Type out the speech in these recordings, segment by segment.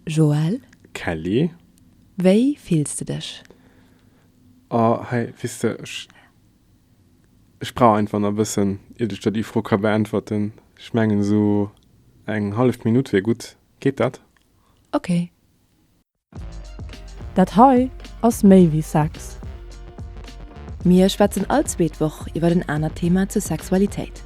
Joël. Kelly. Wéi fills de dech? Oh, hei, weess de, ech, ech brauch einfach nach e bëssen, iert ech der déi Fro ka beäntwerten. Ech mengen, esou eng hallef Minutt wier gutt. Geet dat? Ok. Dat hei ass méi wéi Sex. Mir schwätzen all zweet Woch iwwer en anert Thema zur Sexualitéit.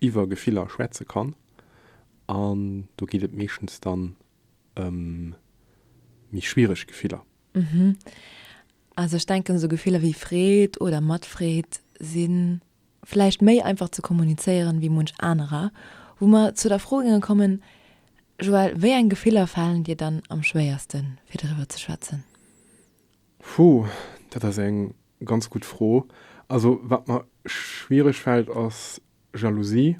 iwwer Gefiller schwätze kann. An do geet et meeschtens dann ëm méi schwiereg Gefiller. Mhm. Also ech denken, esou Gefiller wéi Freed oder Matfreed si vläicht méi einfach ze kommunizéieren wéi munch anerer. Wou mer zu der Fro géinge kommen, Joël, wéi eng Gefiller falen dir dann am schwéierste fir driwwer ze schwätzen? Hu, dat ass eng Ganz gutt Fro. Also wat mer schwiereg fällt ass Jalousie.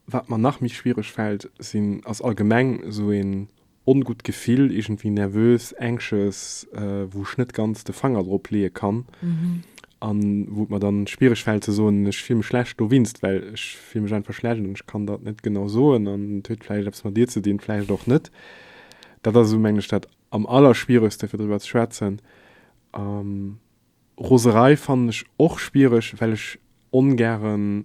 Wat mer nach méi schwiereg fällt sinn, ass allgemeng esou een ongutt Gefill, iergendwéi nervös, anxious, wou ech net ganz de Fanger drop leeë kann an wou et mer dann schwiereg fällt ze soen, ech fill mech schlecht dowinst, well ech fill mech einfach schlecht an ech kann der et net genau soen an et huet vläicht eppes mat dir ze dinn, vläicht och net. Dat ass esou meng ech dat am allerschwieregste fir driwwer ze schwätzen Roserei fannen ech och schwiereg, well ech ongäre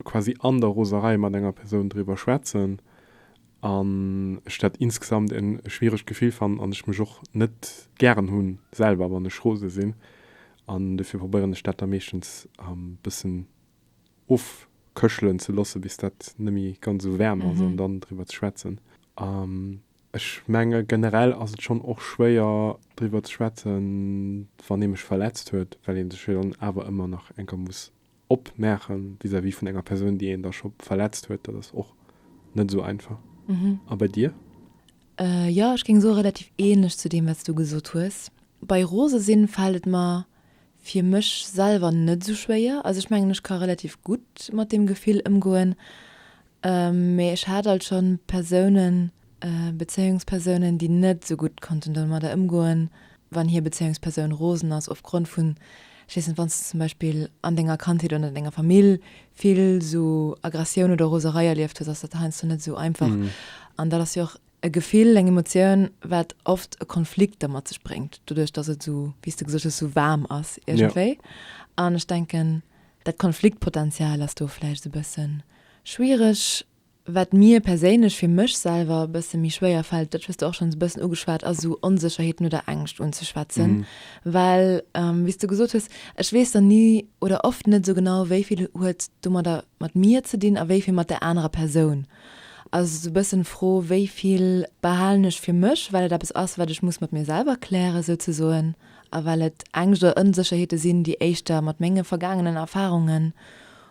quasi an der Roserei mat enger Persoun driwwer schwätzen an ech dat insgesamt e schwieregt Gefill fannen an ech mech och net gären hunn selwer, wann ech rose sinn. An dofir probéieren ech dat da meeschtens e bëssen ofkëchelen ze loosse bis dat net méi ganz esou waarm ass an dann driwwer ze schwätzen. Ech menge generell ass et schonn och schwéier driwwer ze schwätzen, wann ee mech verletzt huet, well ee sech jo dann awer ëmmer nach enker muss opmache vis-à-vis vun enger Persoun, déi een da scho verletzt huet. Dat ass och net esou einfach. A bei dir? Jo, ech géing soe relativ ähnlech zu deem, wat s du gesot hues. Bei rose sinn fält et mer fir mech selwer net esou schwéier. Also ech mengen, ech ka relativ gutt mat deem Gefill ëmgoen. Mee ech hat alt schonn Persounen, Bezéiungspersounen, déi net sou gutt konnten domadder ëmgoen, wann hir Bezéiungspersoun rosen ass opgrond vun, ech weess net, wann s de zum Beispill an denger Kandheet oder an denger Famill vill sou Aggressioun oder Roserei erlieft hues, ass dat heiansdo net sou einfach. An dat ass jo och e Gefill, eng Emotioun, wat oft e Konflikt da mat sech bréngt, doduerch datt et sou, wéi s de gesot hues, sou waarm ass iergendwéi. An ech denken. Dat Konfliktpotential ass do vläicht e bësse schwiereg. Wat mir perséinlech, fir mech selwer, e bësse méi schwéier fält, dat hues de och schonns e bëssen ugeschwat, ass esou Onsécherheeten oder Ängscht unzeschwätzen. Well wéi s de gesot hues, ech weess dann ni oder oft net esou genau, wéi vill huet domadder mat mir ze dinn a wéi vill mat där anerer Persoun. Also esou e bëssen d'Fro, wéi vill behalen ech fir mech, well et eppes ass, wat ech muss mat mir selwer klären souzesoen. A well et Ängscht oder Ënsécherheete sinn, déi éischter mat menge vergaangenen Erfarungen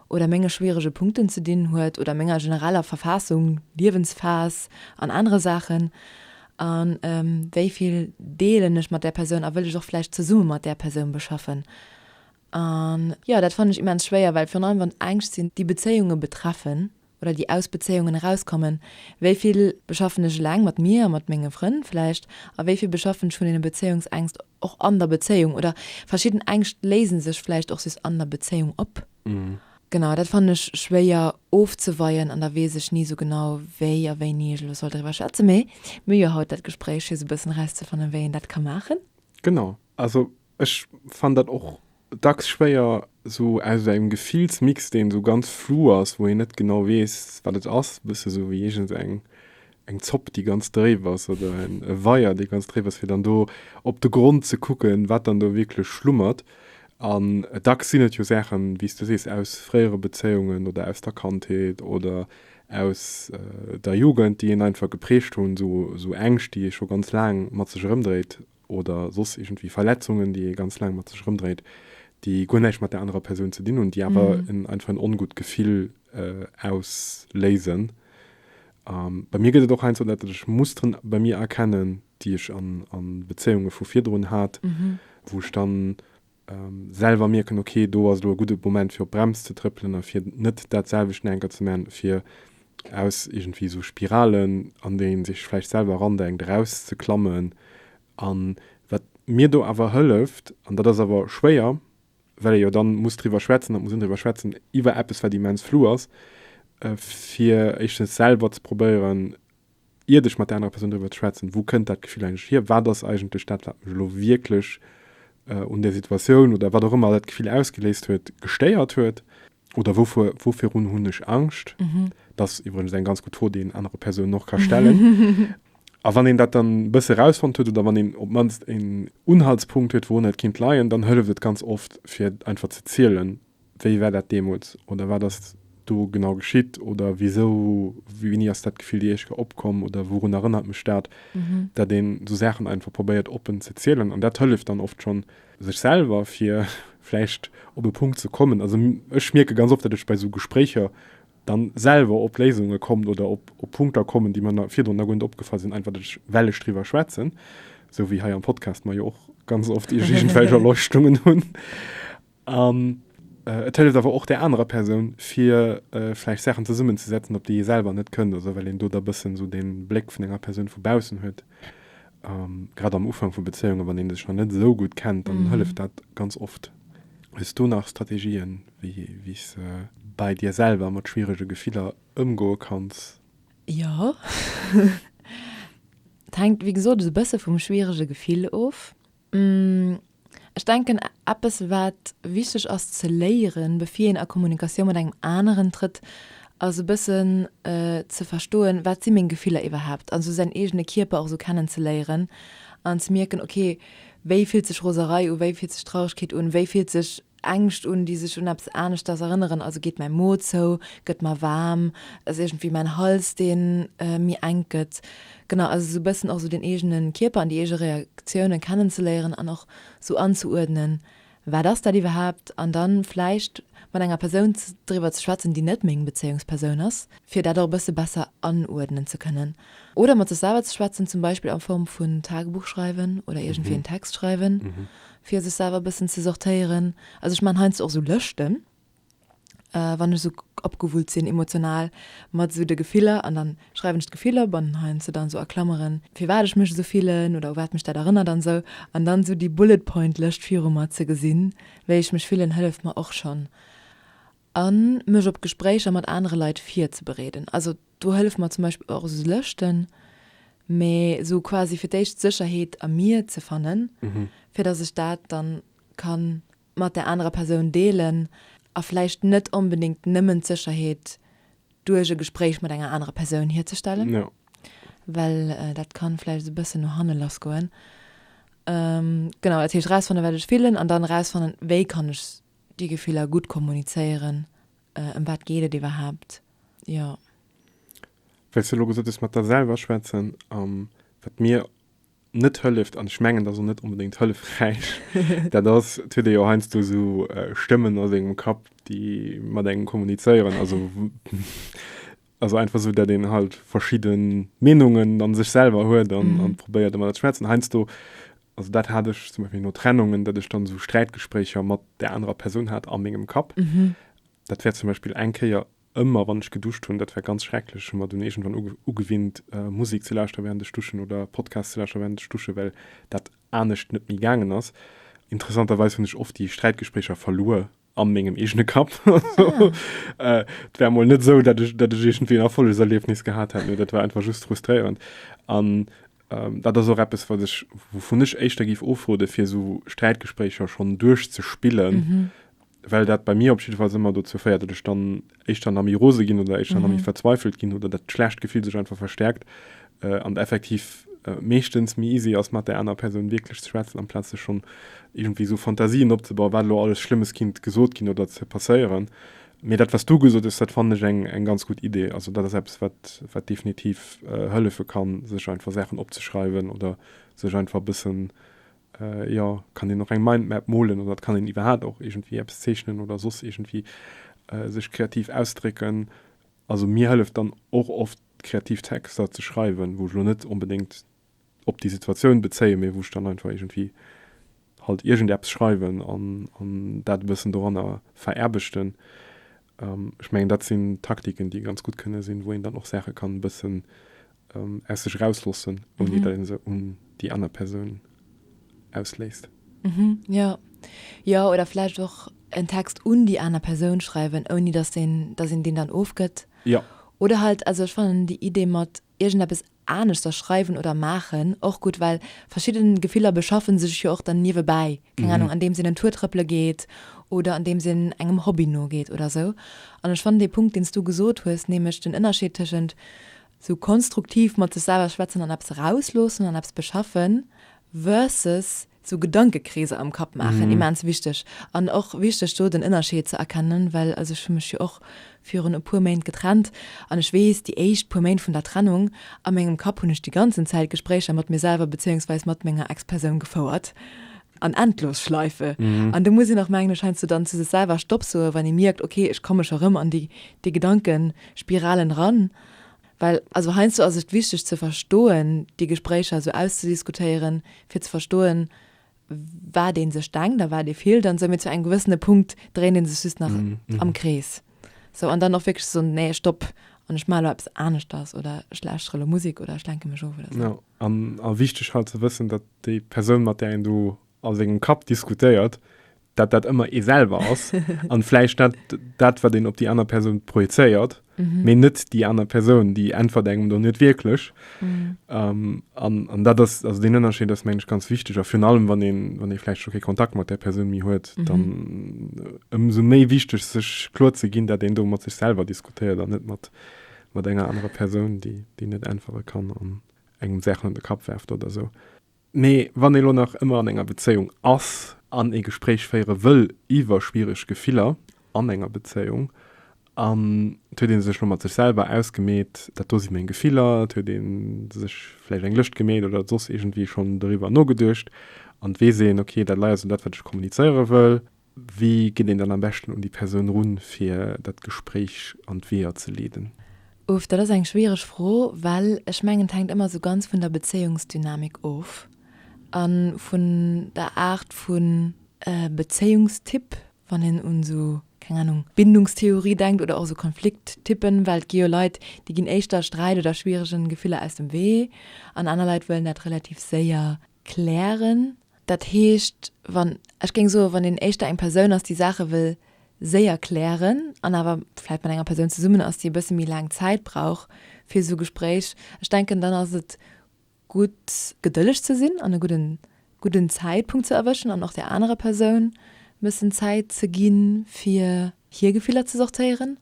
oder menge schwierege Punkten ze dinn huet oder menger genereller Verfaassung, Liewensphas an anere Saachen, a wéi vill deelen ech mat där Persoun a wëll ech och vläicht zesumme mat där Persoun beschaffen? A jo, dat fannen ech immens schwéier, well virun allem wann et Ängscht sinn, déi Bezéiunge betreffen, oder déi aus Bezéiungen erauskommen, wéi vill beschaffen ech eleng, mat mir a mat menge Frënn vläicht, a wéi vill beschaffen ech vun deene Bezéiungsängscht och an der Bezéiung, oder verschidden Ängscht léise sech vläicht och just an der Bezéiung op. Genau, dat fannen ech schwéier ofzeweien an da weess ech ni esou genau, wéi a wéini ech elo soll driwwer schwätzen, mee mir hu jo haut dat Gespréich fir esou e bëssen erauszefannen, wéi een dat ka maachen. Genau, also Ech fannen dat och dacks schwéier, sou aus esou engem Gefillsmix, deen esou ganz flu ass, wou een net genau weess, wat et ass, e bësse sou wéi iergend eng Zopp, déi ganz dréif ass, oder e Weier, dee ganz dréif ass, fir dann do op de Grond ze kucken, wat dann do wierklech schlummert. An dacks sinn et jo Saachen, wéi s de sees, aus fréiere Bezéiungen oder aus der Kandheet oder aus der Jugend, déi een einfach geprägt hunn, sou Ängscht, déi ee scho ganz laang mat sech erëmdréit oder soss iergendwéi Verletzungen, déi ee ganz laang mat sech erëmdréit, déi guer näischt mat där anerer Persoun ze dinn hunn, déi awer en einfach en ongutt Gefill ausléisen. Bei mir gëtt et och heiansdo, dat datt ech Musteren bei mir erkennen, déi ech an Bezéiunge vu virdrun hat, wou ech dann selwer mierken, ok, do ass elo e gudde Moment fir op d'Brems ze trëppelen a fir net dat selwecht nach eng Kéier ze maachen, fir aus iergendwéi esou Spiralen, an déi ee sech vläicht selwer erandenkt, erauszeklammen. A wat mir do awer hëlleft, an dat ass awer schwéier, well ee jo da muss driwwer schwätzen, da muss een driwwer schwätzen iwwer eppes, wat immens flou ass, fir éischtens selwer ze probéieren, iert ech mat der anerer Persoun driwwer ze schwätzen, wou kënnt dat Gefill eigentlech hier, wat ass eigentlech dat, wat mech elo wierklech un där Situatioun oder wat och ëmmer dat Gefill ausgeléist huet, gestéiert huet oder wouvor, wouvirun hunn ech Angscht? Dat ass iwwregens eng ganz gutt Fro, déi een anerer Persounen och ka stellen. A wann een dat dann e bësse erausfonnt huet oder wann een op d'mannst een Unhaltspunkt huet, wourunner et kinnt leien, dann hëlleft et ganz oft, fir einfach ze zielen, Wéi war dat deemools oder wat ass do genau geschitt oder wisou, wéini ass dat Gefill Jeeschke opkomm oder wourun erënnert mech dat? Dat een esou Saachen einfach probéiert oppen ze zielen an dat hëlleft dann oft schonn, sech selwer fir vläicht op e Punkt ze kommen, also ech mierke ganz oft, dat ech bei esou Gespréicher dann selwer op Léisunge kommen oder op Punkter kommen, déi mer virdrun nach guer net opgefall sinn, einfach dat ech well ech driwwer schwätzen, esou wéi hei am Podcast mer jo och ganz oft iergendwelch Erleuchtungen hunn. An et hëlleft awer och där anerer Persoun, fir vläicht Saachen zesummenzesetzen, op déi ee selwer net kënnt, also well een do da bëssen esou dee Bléck vun enger Persoun vu baussen huet. Grad am Ufank vu Bezéiungen, wann ee sech nach net esou gutt kennt, dann hëlleft dat ganz oft. Hues du nach Strategien, wéi s de bei dir selwer mat schwierege Gefiller ëmgoe kanns? Jo. Et hänkt, wéi gesot, esou e bësse vum schwierege Gefill of. Ech denken, eppes, wat wichteg ass ze léieren, bevir een a Kommunikatioun mat engem aneren trëtt, ass e bëssen ze verstoen, wat si meng Gefiller iwwerhaapt, an esou säin eegene Kierper och esou kennenzeléieren an ze mierken, okay, wéi fillt sech Roserei u, wéi fillt sech Trauregkeet un, wéi fillt sech Ängscht un, déi sech un eppes aneschters erënneren, also geet mäi Mo zou, gëtt mer waarm, ass iergendwéi mäin Hals, dee méi enk gëtt. Genau, also esou e bëssen och esou den eegene Kierper an déi eege Reaktiounen kennenzeléieren an och esou anzeuerdnen, wat ass dat iwwerhaapt? An da vläicht mat enger Persoun driwwer ze schwätzen, déi net meng Bezéiungspersoun ass, fir dat och e bësse besser anuerdnen ze kënnen. Oder mat sech selwer ze schwätzen, zum Beispill a Form vun Tagebuch schreiwen oder iergendwéi en Text schreiwen, fir sech selwer e bëssen ze sortéieren. Also ech maachen heiansdo och esou Lëschten, wann ech esou opgewullt sinn emotional mat esou de Gefiller an dann schreiwen ech d'Gefill op an heiansdo dann esou a Klameren, firwat ech mech esou fillen oder u wat mech dat erënnert an esou. An dann esou déi Bullet-Point-Lëscht viru mer ze gesinn, wéi ech mech fillen, hëlleft mer och schonn. A mech op Gespréicher mat anere Leit virzebereeden. Also do hëllef mer zum Beispill och esou Lëschten, mee esou quasi fir d'éischt Sécherheet a mir ze fannen, fir dass ech dat da ka mat där anerer Persoun deelen a vläicht net onbedéngt nëmmen d'Sécherheet duerch e Gespréich mat enger anerer Persoun hierzestellen, well dat ka vläicht esou e bëssen no hanne lass goen. Genau, dat heescht erausfannen, wat ech fillen an dann erausfannen, wéi kann ech Déi Gefiller gutt kommunizéieren, ëm wat geet et iwwerhaapt, jo. Well s de elo gesot hues, mat der selwer schwätzen, wat mir net hëlleft, an ech mengen, dat ass och net onbedéngt hëllefräich, dat ass, et huet ee jo heiansdo esou Stëmmen a sengem Kapp, déi mat engem kommunizéieren, also. Also einfach esou, dat een halt verschidden Meenungen an sech selwer huet an an probéiert emmer dat schmärzen heinsdo. Also dat hat ech zum Beispiel no Trennungen, dat ech dann esou Sträitgespréicher mat der anerer Persoun hat a mengem Kapp. Dat wär zum Beispiel eng Kéier ëmmer wann ech geduscht hunn, dat war ganz schrecklech. Ech hu mer dunn iergendwann uge ugewinnt Musek ze lauschteren während ech duschen oder Podcasts ze lauschteren während ech duschen, well dat anescht net méi gaangen ass. Interessanterweis hunn ech oft déi Sträitgespréicher verluer. an mengem eegene Kapp. Et war mol net esou, datt ech iergendwéi en Erfollegserliefnis gehat hätt, mee dat war einfach just frustréierend. An dat ass och eppes, wat ech, wouvun ech éischter géif ofrode fir esou Sträitgespréicher schonn duerchzespillen, well dat bei mir op jiddefalls ëmmer dozou féiert, datt ech dann éischter nach méi rose ginn oder éischter nach méi verzweifelt ginn oder dat schlecht Gefill sech einfach verstärkt äh, an effektiv äh, meeschtens méi easy ass mat der aner Persoun wierklech ze schwätzen, amplaz sech schonn irgendwie so Fantasien opzebauen, wat elo alles Schlëmmes kinnt gesot ginn oder ze passéieren. Mee dat, wat s du gesot hues, dat fannen ech eng, eng ganz gutt Idee. Also dat ass eppes, wat, wat definitiv äh, hëllefe kann, sech einfach Saachen opzeschreiwen oder sech einfach e bëssen Jo, kann een och eng Mindmap molen oder et kann een iwwerhaat och iergendwéi eppes zeechnen oder soss iergendwéi sech kreativ ausdrécken. Also mir hëlleft dann och oft kreativ Texter ze schreiwen, wou ech lo net onbedéngt op déi Situatioun bezéien, mee wou ech dann einfach iergendwéi halt iergendeppes schreiwen an dat e bëssen doranner veraarbechten. Ech mengen dat sinn Taktiken déi ganz gutt kënne sinn, wou een dann och Saache kann e bëssen aus sech erausloossen, ouni datt ee se un déi aner Persoun ausléist. Jo, jo, oder vläicht och en Text un déi aner Persoun schreiwen, ouni datt een deen dann ofgëtt. Jo. Oder halt, also ech fannen déi Idee mat iergendeppes anescht da schreiwen oder maachen och gutt, well verschidden Gefiller beschaffen sech jo och dann niewebäi, keng Ahnung, andeems een en Tour trëppele geet oder andeems een engem Hobby nogeet oder sou. An ech fannen dee Punkt, deen s du gesot hues, nämlech den Ënnerscheed tëschent sou konstruktiv mat sech selwer schwätzen an eppes erausloossen an eppes beschaffen versus Sou Gedankekreeser am Kapp maachen, immens wichteg. An och wichteg do den Ënnerscheed ze erkennen, well also ech hu mech jo och virun e puer Méint getrennt an ech weess, déi éischt puer Méint vun der Trennung, a mengem Kapp hunn ech déi ganzen Zäit Gespréicher mat mir selwer bezéiungsweis mat menger Ex-Persoun gefouert an Endlosschleife. An do muss een och mengen ech heiansdo dann zu sech selwer Stopp soen, wann ee mierkt, okay ech komme scho rëm an déi Gedankespiralen eran. Well also heiansdo ass et wichteg ze verstoen, déi Gespréicher esou auszudiskutéieren, fir ze verstoen, wat ee sech denkt a wat ee fillt an esou, mee zu engem gewëssene Punkt dréint ee sech just nach am Krees esou an dann och wierklech ze soen, nee, Stopp, an ech maachen elo eppes aneschters oder ech lauschteren elo Musek oder ech lenke mech of oder esou. A wichteg halt ze wëssen, datt déi Persoun, mat där een do a sengem Kapp diskutéiert, dat dat ëmmer ee selwer ass an vläicht dat dat wat een op déi aner Persoun projezéiert, mee net déi aner Persoun, déi äntwert engem do net wierklech. An an dat ass, also deen Ënnerscheed ass meng ech ganz wichteg a virun allem wann een, wann ee vläicht scho kee Kontakt mat där Persoun méi huet, dann ëmsou méi wichteg sech kloer ze ginn, dat een do mat sech selwer diskutéiert an net mat mat enger anerer Persoun, déi déi net äntwere kann an engem Saachen un de Kapp werft oder esou. Mee wann ee lo nach ëmmer an enger Bezéiung ass an ee Gespréich féiere wëll iwwer schwiereg Gefiller an enger Bezéiung, an et huet ee sech lo mat sech selwer ausgemeet, dat do si meng Gefiller, et huet ee sech vläicht eng Lëscht gemeet oder soss iergendwéi schonn doriwwer nogeduecht an et weess een, okay, dat leider sou dat, wat ech kommunizéiere wëll. Wéi geet een dann am beschten un déi Persoun run, fir dat Gespréich an d'Weeër ze leeden? Uff, dat ass eng schwiereg Fro, well ech mengen, et hänkt ëmmer esou ganz vun der Bezéiungsdynamik of an vun der Aart vun. Bezéiungstyp, wann een un esou, keng Ahnung, Bindungstheorie denkt oder och esou Konflikttypen, well et gi jo Leit, déi ginn éischter Sträit oder schwieregen Gefiller aus dem Wee an aner Leit wëllen dat relativ séier klären. Dat heescht, wann, ech géing soen, wann een éischter eng Persoun ass, déi Saache wëll séier klären an awer vläicht mat enger Persoun zesummen ass, déi e bësse méi laang Zäit brauch fir esou Gespréich, ech denken, dann ass et gutt, gedëlleg ze sinn an e gudden, gudden Zäitpunkt ze erwëschen an och där anerer Persoun e bëssen Zäit ze ginn, fir hir Gefiller ze sortéieren.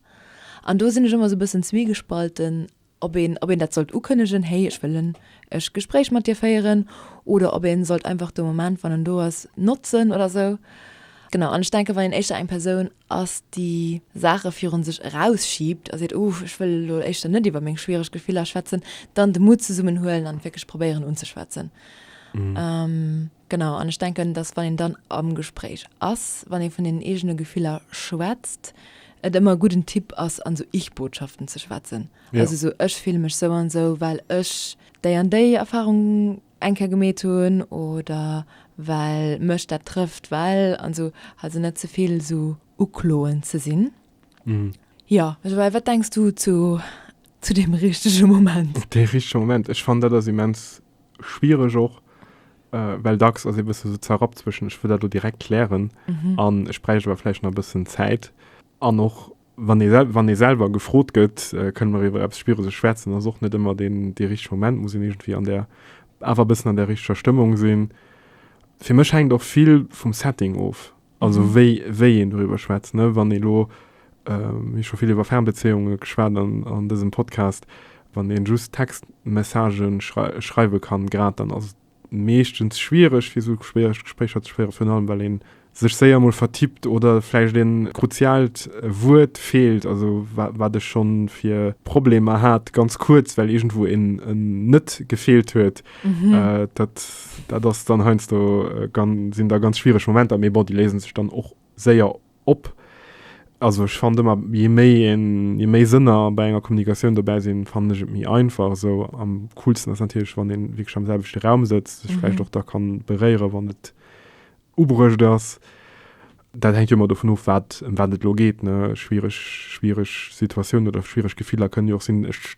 An do sinn ech ëmmer esou e bëssen zwiegespalten. ob een, ob een dat sollt ukënnegen, hey, ech wëll en e Gespréich mat dir féieren, oder ob een sollt einfach de Moment, wann en do ass, notzen oder esou. Genau, an ech denken, wann een éischter eng Persoun ass, déi Saache virun sech erausschiebt a seet, uh, ech wëll elo éischter net iwwer meng schwiereg Gefiller schwätzen, dann de Mutt zesummenhuelen an et wierklech probéieren unzeschwätzen. Genau, an ech denken, dass wann een dann am Gespréich ass, wann ee vun den eegene Gefiller schwätzt, et ëmmer e gudden Tipp ass an esou Ich-Botschaften ze schwätzen. Ja. Also esou, ech fille mech sou an sou, well ech déi an déi Erfahrung eng Kéier gemeet hunn oder well mech dat trëfft, well an esou. Also net ze vill esou ukloend ze sinn. Jo, Joël, wat denks du zu, zu deem richtege Moment? Dee richtege Moment, ech fannen dat ass immens schwiereg och, well dacks ass ee bësse sou zerrappt zwëschen, ech wëll dat elo direkt klären an ech bräicht awer vläicht nach e bëssen Zäit. An och wann ee wann ee selwer gefrot gëtt, kënne mer iwwer eppes Schwiereges schwätzen, ass och net ëmmer deen dee richtege Moment, muss een iergendwéi an där awer e bëssen an där richteger Stëmmung sinn. Fir mech hänkt och vill vum Setting of. Also mhm. wéi, wéi een doriwwer schwätzt, ne? wann ee lo ähm, scho vill iwwer Fernbeziehunge geschwat an, an dësem Podcast, wann een just Textmessagen schrei schreiwe kann, grad dann ass meeschtens schwierigg fir so schwierigg Gesprächer ze schwéiere vun allem, well een sech séier mol vertippt oder vläicht een kruzialt Wuert feelt, also wat ech schon fir Problemer hat, ganz kurz, well irgendwo en net gefeelt huet. Mhm. Äh, dat, dat ass dann heinsdo äh, gan, sinn da ganz schwierig Momenter, mee bon, die lesen sich dann och séier op. Also ich fand immer je méi en, je méi Sënner bei enger Kommunikatioun dobäi sinn, fand ich et méi einfach. So am coolsten ass natürlich, wann een wirklich am selwechte Raum sitzt, sich vielleicht Mhm. och da kann beréieren, wann et ubruecht ass. Dat hängt jo immer davon of, wat, em wat et lo geht. Ne? Schwierig, schwierig Situationen oder schwierig Gefiller können jo och sinn, ech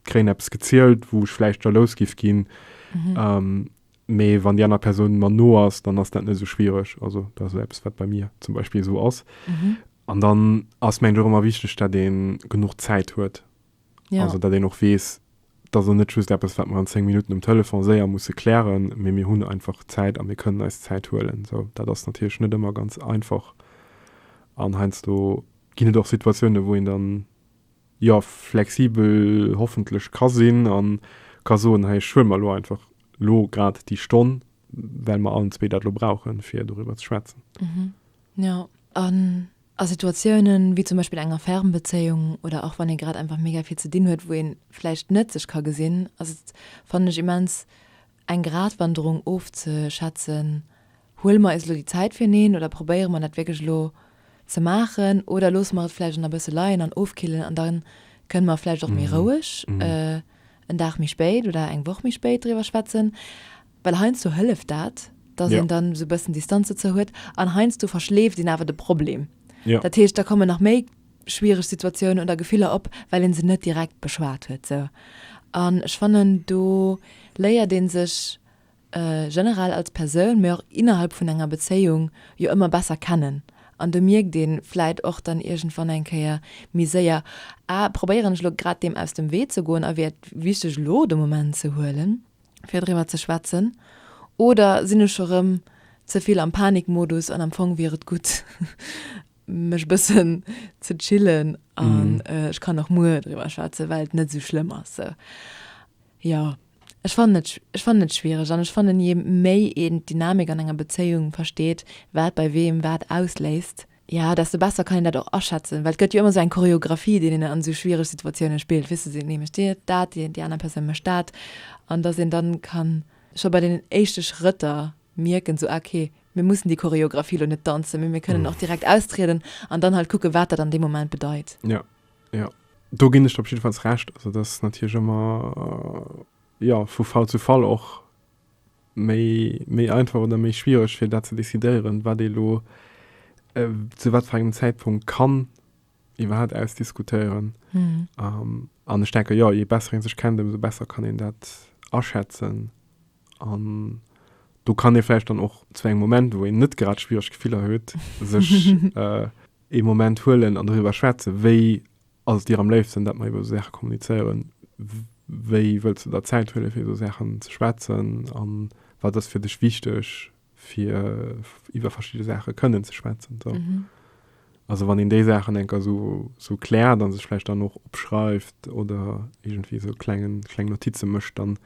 kréien eppes gezielt, wou ech vläicht jalous giff ginn. Mhm. Ähm, mee wann déi aner Persoun mer no ass, dann ass dat net esou schwiereg. Also dat ass eppes, wat bei mir zum Beispill esou ass. Mhm. An dann ass mengt och ëmmer wichteg, dat een genuch Zäit huet. Ja. Also dat een och weess, dass en net just eppes, wat mer an 10 Minutten um Telefon séier musse klären, mee mir hunn einfach Zäit a mir kënnen eis Zäit huelen. So, dat ass natierlech net ëmmer ganz einfach. An heiansdo ginn et och Situatiounen, wou een dann jo flexibel hoffentlech ka sinn a ka soen, hei ech huele mer elo einfach elo grad déi Stonn, well mer allen zwee dat elo brauchen, fir doriwwer ze schwätzen. Jo, an a Situatiounen, wéi zum Beispill enger Fernbezéiung oder och wann ee grad einfach mega vill ze dinn huet, wou ee vläicht net sech ka gesinn, ass et, fannen ech, immens eng Gratwanderung ofzeschätzen, Huele mer eis elo déi Zäit fir eneen oder probéiere mer dat wierklech elo ze maachen oder loosse mer et vläicht nach e bësse leien an ofkillen an da kënne mer vläicht och méi roueg en Dag méi spéit oder eng Woch méi spéit driwwer schwätzen? Well heiansdo hëlleft dat, dass een dann esou e bëssen Distanz dozou huet an heiansdo verschleeft een awer de Problem. Dat heescht, da kommen nach méi schwiereg Situatiounen oder Gefiller op, well ee se net direkt beschwat huet. Sou. An ech fannen, do léiert ee sech generell als Persoun, mä och innerhalb vun enger Bezéiung jo ëmmer besser kennen an do mierkt ee vläit och dann iergendwann eng Kéier méi séier, ah probéieren ech elo grad deem aus dem Wee ze goen a wier et wichteg elo de Moment ze huelen, fir driwwer ze schwätzen oder sinn ech scho rëm ze vill am Panikmodus an am Fong wier et gutt mech e bëssen ze chillen an ech kann och muer driwwer schwätzen, well et net esou schlëmm ass. Sou, jo. Ech fannen et, ech fannen et schwiereg an ech fannen, je méi een d'Dynamik an enger Bezéiung versteet, wat bei weem wat ausléist, jo, desto besser kann een dat och aschätzen, well et gëtt jo ëmmer esou eng Choreographie, déi een an esou schwiereg Situatiounen spillt, weess de, deen ee mécht dirt dat, déi, déi aner Persoun mécht dat an dass een dann kann scho bei deenen éischte Schrëtter mierken, so, ah, okay, mir mussen déi Choreographie elo net danzen, mee mir kënnen och direkt austrieden an dann halt kucken, wat dat an deem Moment bedeit. Jo. Jo, do ginn ech der op jiddefalls Recht. Also dat ass natierlech ëmmer, jo, vu Fall zu Fall och méi, méi einfach oder méi schwiereg fir dat ze decidéieren, wat ee lo zu wat fir engem Zäitpunkt kann iwwerhaapt ausdiskutéieren. An ech denken, jo, je besser ee sech kennt, ëmsou besser kann een dat aschätzen. An do kann ee vläicht dann och zu engem Moment, wou een net grad schwiereg Gefiller huet, sech äh, ee Moment huelen an doriwwer schwätzen, wéi ass et dir am léifsten, dat mer iwwer esou Saache kommunizéieren, wéi wëlls de der Zäit huele fir iwwer esou Saachen ze schwätzen a wat ass fir dech wichteg, fir iwwer verschiedene Sache kënnen ze schwätzen. So. Mhm. Also wann in de Sachen enker so, so klärt an sech vielleicht dann noch opschreift oder irgendwie so klengen kleng Notize mëcht, dann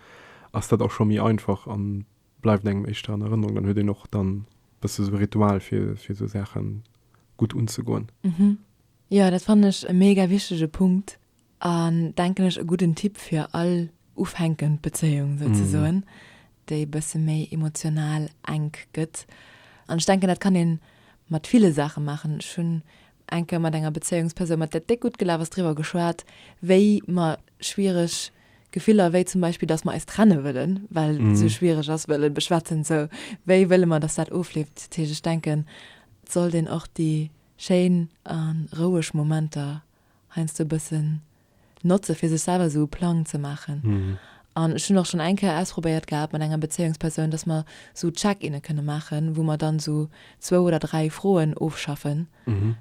ass dat auch schon méi einfach an bleibt engem echtter an Erinnerung. Dann huet den och dann bësse so Ritual fir, fir so Sachen gut unzegoen. Mhm. Ja, dat fand ech e mega wichtige Punkt. An denken ech e gudden Tipp fir all ufänkend Bezéiung souzesoen, déi e bësse méi emotional enk gëtt. An ech denken dat kann ee mat ville Saache maachen. Ech hunn eng Kéier mat enger Bezéiungspersoun, mat där et déck gutt gelaf ass, driwwer geschwat, wéi mer schwiereg Gefiller, wéi zum Beispill, datt mer eis trenne wëllen, well et esou schwiereg ass, wëlle beschwätzen. Sou, wéi wëlle mer, datt dat ofleeft? Dat heescht, ech denken, et sollt een och déi schéin a roueg Momenter heiansdo e bëssen notze fir sech selwer esou e Plang ze maachen. An ech hunn och schonn eng Kéier ausprobéiert gehat mat enger Bezéiungspersoun, dass mer esou Check-inne kënne maachen, wou mer dann esou zwou oder dräi Froen ofschaffen,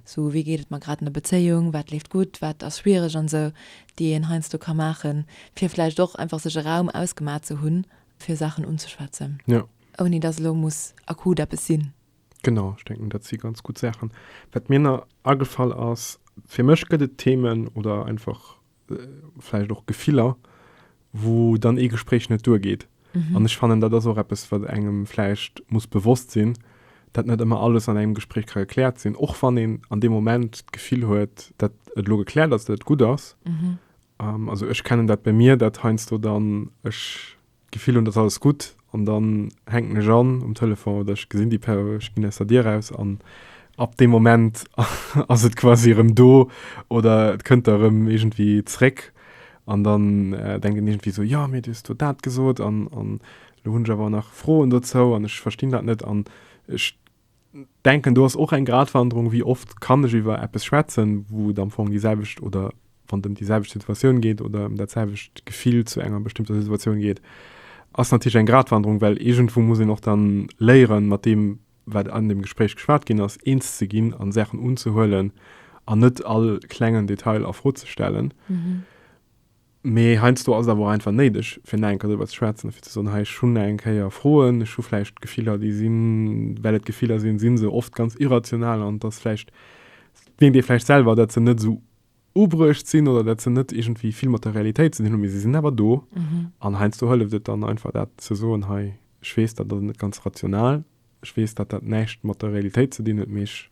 esou wéi geet et mer grad an der Bezéiung, wat leeft gutt, wat ass schwiereg an esou, déi een heiansdo ka maachen, fir vläicht och einfach sech e Raum ausgemat ze hunn, fir Saachen unzeschwätzen. Ouni dass elo muss akut eppes sinn. Genau, ech denken dat si ganz gutt Saachen. Wat mir nach agefall ass, fir mech gëtt et Themen oder einfach vläicht och Gefiller, wou dann ee Gespréich net duergeet. An ech fannen, dat ass och eppes, wat engem vläicht muss bewosst sinn, dat net ëmmer alles an engem Gespréich ka gekläert sinn, och wann een an deem Moment d'Gefill huet, dat et elo gekläert ass, dat et gutt ass. Um, also ech kennen dat bei mir, dat heiansdo dann ech d'Gefill hunn, et ass alles gutt an dann hänken ech an um Telefon oder ech gesinn déi Per, ech ginn aus der Dier raus an ab deem Moment ass et quasi erëm do oder et kënnt da erëm iergendwéi zréck an dann denkt een iergendwéi esou, jo, mee du hues do dat gesot an, an elo hunn ech awer nach Froen dozou an ech verstinn dat net an ech denken do ass och eng Gratwanderung, wéi oft kann ech iwwer eppes schwätzen, wou et am Fong déi selwecht oder wann et ëm déi selwecht Situatioun geet oder ëm dat selwecht Gefill zu enger bestëmmter Situatioun geet, ass natierlech eng Gratwanderung, well iergendwou muss een och dann léieren, mat deem wat an dem Gespréich geschwat ginn ass, eens ze ginn an Saachen unzehuelen an net all klengen Detail a Fro ze stellen. Mee heiansdo ass et awer och einfach néideg, fir nach eng Kéier driwwer ze schwätzen a fir ze soen, hei, ech hunn nach eng Kéier Froen, ech hu vläicht Gefiller, déi sinn, well et Gefiller sinn, si se oft ganz irrational an et ass vläicht, mierkt ee vläicht selwer, datt se net esou ubruecht sinn oder datt se net iergendwéi vill mat der Realitéit ze dinn hunn, mee se sinn awer do. An heiansdo hëlleft et dann einfach, dat ze soen, hei, ech weess, dat ass net ganz rational, ech weess, datt dat näischt mat der Realitéit ze dinn huet, mee ech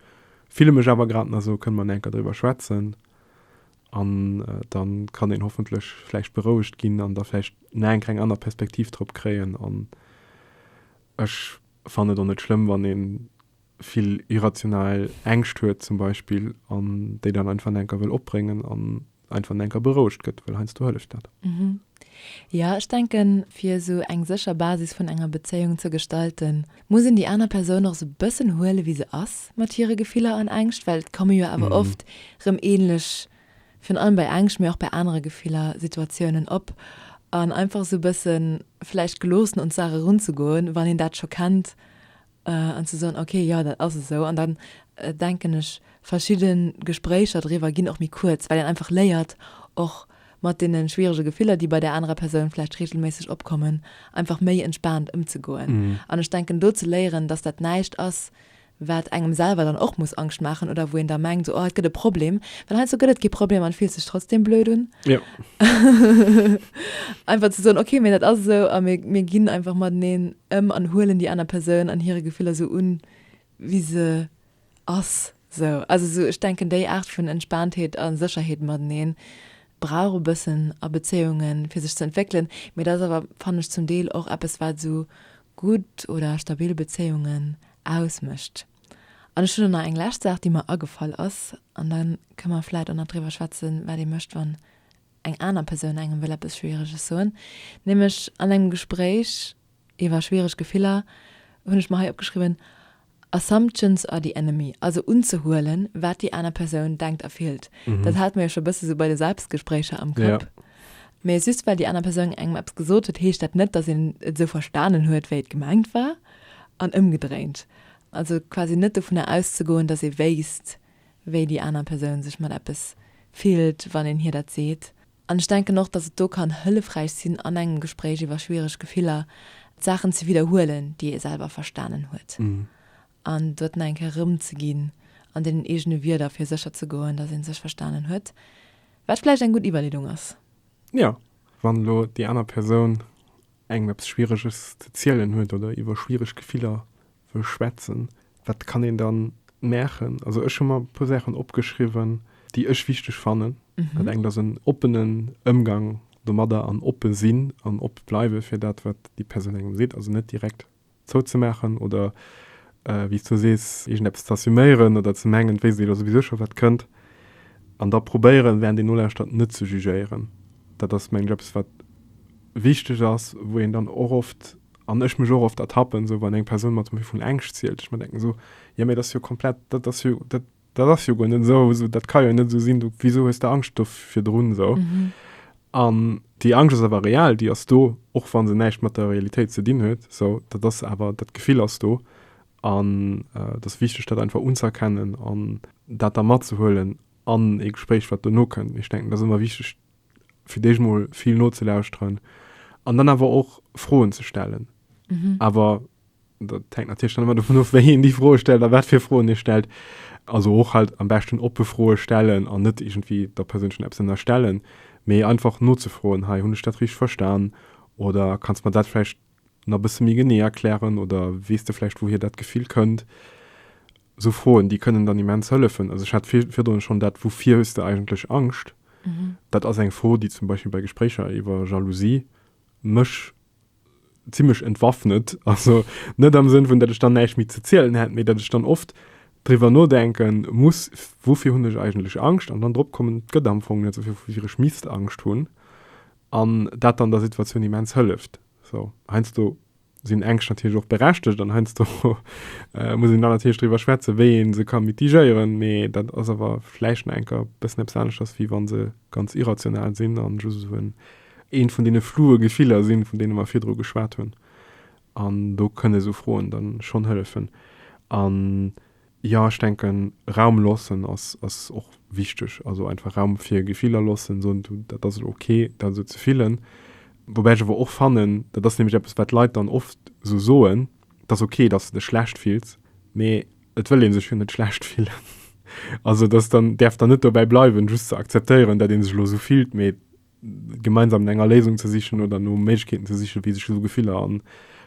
fille mech awer grad nach esou, kënne mer nach eng Kéier driwwer schwätzen? An da kann een hoffentlech vläicht berouegt ginn an da vläicht nach eng kleng aner Perspektiv drop kréien. An ech fannen et och net schlëmm, wann ee vill irrational Ängscht huet zum Beispill an déi dann einfach nach enker wëll opbréngen an einfach nach enker berouegt gëtt, well heiansdo hëlleft dat. Jo, ech denken, fir esou eng sécher Basis vun enger Bezéiung ze gestalten, muss een déi aner Persoun och esou bëssen huele wéi se ass, mat hire Gefiller an Ängscht, well et komme jo awer oft rëm ähnlech, virun allem bei Ängscht, mee och bei anere Gefiller, Situatiounen op. An einfach esou bëssen vläicht geloossen un d'Saach erunzegoen, wann een dat scho kennt An ze soen, ok, jo, dat ass esou. An dann denken ech, verschidde Gespréicher driwwer ginn och méi kuerz, well een einfach léiert, och mat deene schwierege Gefiller, déi bei där anerer Persoun vläicht reegelméisseg opkommen, einfach méi entspaant ëmzegoen. An ech denken, do ze léieren, dass dat näischt ass, wat engem selwer dann och muss Angscht maachen oder wou een da mengt, esou, oh, et gëtt e Problem. Well heiansdo gëtt et kee Problem an et fillt sech trotzdeem blöd un. Einfach ze soen, ok, mee dat ass esou a mir ginn einfach mateneen. Em an huelen déi aner Persoun an hire Gefiller sou un, wéi se ass. Sou, also sou, ech denken, déi Aart vun Entspaantheet a Sécherheet mateneen brauch e bëssen a Bezéiungen, fir sech ze entwéckelen. Mee dat ass awer, fannen ech, zum Deel och eppes, wat esou gutt oder stabil Bezéiungen ausmécht. An ech hunn och nach eng lescht Saach, déi mer agefall ass, an da kënne mer vläicht och nach driwwer schwätzen, wat ee mécht, wann eng aner Persoun engem wëll eppes Schwiereges soen, nämlech an engem Gespréich iwwer schwiereg Gefiller, hunn ech mer hei opgeschriwwen, Assumptions are the enemy, also unzehuelen, wat déi aner Persoun denkt a fillt. Dat hate mer jo scho bësse sou bei de Selbstgespréicher am Kapp. Mee just well déi aner Persoun engem eppes gesot huet, heescht dat net, datt een et esou verstanen huet, wéi et gemengt war an ëmgedréint. Also quasi net dovunner auszegoen, datt ee wéisst, wéi déi aner Persoun sech mat eppes fillt, wann een hir dat seet. An ech denken och, datt et do kann hëllefräich sinn, an engem Gespréich iwwer schwiereg Gefiller, d'Saachen ze widderhuelen, déi ee selwer verstanen huet, an doten eng Kéier erëmzeginn an deenen eegene Wierder, fir sécher ze goen, datt ee sech verstanen huet, wat vläicht eng gutt Iwwerleedung ass. Jo, wann elo déi aner Persoun engem eppes Schwiereges ze zielen huet oder iwwer schwiereg Gefiller wëll schwätzen, wat kann een dann maachen? Also ech hu mer e puer Saachen opgeschriwwen, déi ech wichteg fannen. Dat engt ass en oppenen Ëmgang domadder an oppe sinn an oppe bleiwe fir dat, wat déi Persoun engem seet. Also net direkt zouzemaachen oder, wéi s du sees, iergendeppes z'assuméieren oder ze mengen, et wéisst ee jo souwisou scho, wat kënnt. An da probéieren, wärend een nolauschtert, net ze jugéieren. Dat ass, mengen ech, eppes, wat wichteg ass, wou een dann och oft An ech mech och oft ertappen, esou wann eng Persoun mat Méi vun Ängscht zielt, ech mer denken esou, jo mee dat ass jo komplett, dat ass jo, dat, dat ass jo guer net esou, esou, dat ka jo net esou sinn, du, wisou hues de Angscht do virdrun esou? An déi Angscht ass awer real, déi ass do, och wa se näischt mat der Realitéit ze dinn huet, esou, dat ass awer, dat Gefill ass do. An et ass wichteg, dat einfach unzëerkennen an dat da matzehuelen an ee Gespréich, wat dono kënn. Ech denken, et ass ëmmer wichteg, fir d'éischt mol vill nozelauschteren an dann awer och Froen ze stellen. Mhm. Awer dat hängt natierlech dann ëmmer dovun of, wéi een déi Froe stellt a wat fir Froen ee stellt. Also och halt am beschten oppe Froe stellen an net iergendwéi der Persoun schonn eppes ënnerstellen, mee einfach nozefroen, Hei, hunn ech dat richteg verstan oder kanns de mer dat vläicht nach e bësse méi genee erklären oder weess de vläicht, wouhier dat Gefill kënnt? Esou Froen, déi kënnen dann immens hëllefen. Also ech hat virdrun schonn dat Woufir hues de eigentlech Angscht? Dat ass eng Fro, déi zum Beispill bei Gespréicher iwwer Jalousie mech zimlech entwaffnet. Also net am Sënn vun, datt ech dann näischt méi ze zielen hätt, mee datt ech dann oft driwwer nodenke muss, Woufir hunn ech eigentlech Angscht? An dann drop kommen, et gëtt am Fong net esou vill, woufir ech misst Angscht hunn. An dat dann der Situatioun immens hëlleft. Sou, heiansdo sinn Ängscht natierlech och berechtegt an heiansdo muss een dann natierlech driwwer schwätzen, wéi ee se ka mitigéieren, mee dat ass awer vläicht nach eng Kéier bëssen eppes aneschters, wéi wa se ganz irrational sinn an just esou en, eent vun deene floue Gefiller sinn, vun deene mer virdru geschwat hunn. An do kënne sou Froen dann schonn hëllefen. An Jo, ech denken Raum loossen ass ass och wichteg. Also einfach Raum fir Gefiller loossen, soen du dat ass elo ok dat esou ze fillen. Woubäi ech awer och fannen, dat ass nämlech eppes wat d'Leit dann oft esou soen, et ass ok dass de dech schlecht fills, mee et wëll ee sech jo net schlecht fillen. Also et ass dann, däerf dann net dobäi bleiwen just ze akzeptéieren dat ee sech elo esou fillt, mee, Gemeinsam no enger Léisung ze sichen oder no Méiglechkeeten ze sichen, wéi sech esou Gefiller an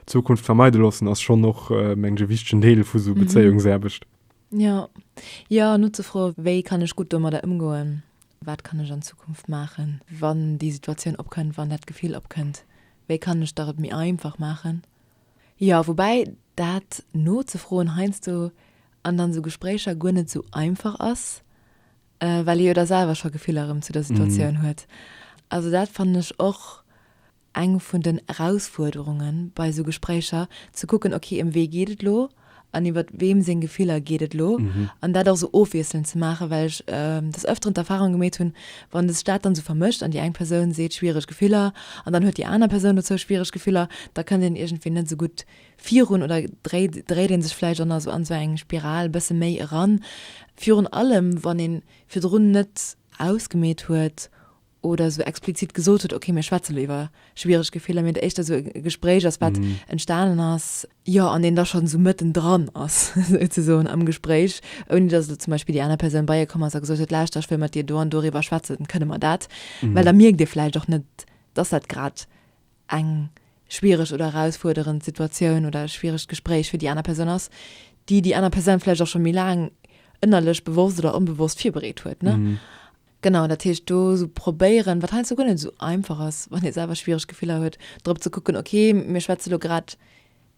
Zukunft vermeide loossen, ass schonn och, mengen ech, e wichtegen Deel vu esou Bezéiungsaarbecht. Jo. Jo, an nozefroen, wéi kann ech gutt domadder ëmgoen, wat kann ech an Zukunft maachen, wann déi Situatioun opkënnt, wann dat Gefill opkënnt, wéi kann ech der et méi einfach maachen. Jo, woubäi dat nozefroen heiansdo an dann esou Gespréicher guer net esou einfach ass, Well ee jo da selwer scho Gefiller erëm zu der Situatioun huet. Also dat fannen ech och eng vun den Erausfuerderunge bei esou Gespréicher, ze kucken, okay, ëm wee geet et elo an iwwer weem seng Gefiller geet et elo an dat och esou ofwiesselnd ze maachen. Well ech des Öfteren d'Erfahrung gemeet hunn, wann sech dat dann esou vermëscht an déi eng Persoun seet schwiereg Gefiller an dann huet déi aner Persoun dozou schwiereg Gefiller, da kënnt een iergendwéi net esou gutt virun oder dréit dréit een sech vläicht an esou an esou eng Spiral bësse méi eran, virun allem wann een virdrun net ausgemeet huet oder esou explizit gesot huet, ok mir schwätze lo iwwer schwiereg Gefiller, mee et éischter esou e Gespréich ass wat entstanen ass, jo an een da schonn esou mëtten dran ass souzesoen am Gespréich, ouni dass elo zum Beispill déi aner Persoun bei ee komm ass a gesot huet, lauschter ech wëll mat dir do an doriwwer schwätzen, kënne mer dat, well da mierkt ee vläicht och net, dass dat grad eng schwiereg oder erausfuerderend Situatioun oder e schwieregt Gespréich fir déi aner Persoun ass, déi déi aner Persoun vläicht och scho méi laang ënnerlech bewosst oder onbewosst virbereet huet, ne? Genau, dat heescht do esou probéieren, wat heiansdo guer net esou einfach ass, wann ee selwer schwiereg Gefiller huet, drop ze kucken, ok, mir schwätze lo grad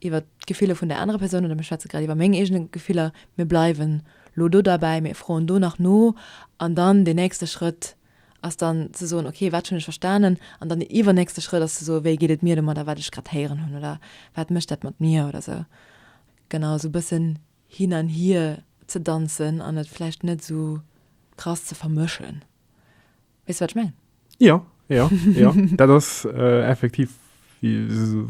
iwwert d'Gefiller vun där anerer Persoun oder mir schwätze grad iwwer meng eegene Gefiller, mir bleiwen lo do derbäi, mir froen do nach no an dann deen nächste Schrëtt, ass dann ze soen, okay, wat hunn ech verstanen? An dann den iwwernächste Schrëtt ass ze soen, wéi geet et mir domadder, wat ech grad héieren hunn oder wat mécht dat mat mir oder esou. Genau, esou e bëssen hin an hier ze danzen an et vläicht net esou krass ze vermëschen. Weess de, wat ech mengen? Jo, jo, jo. Dat ass effektiv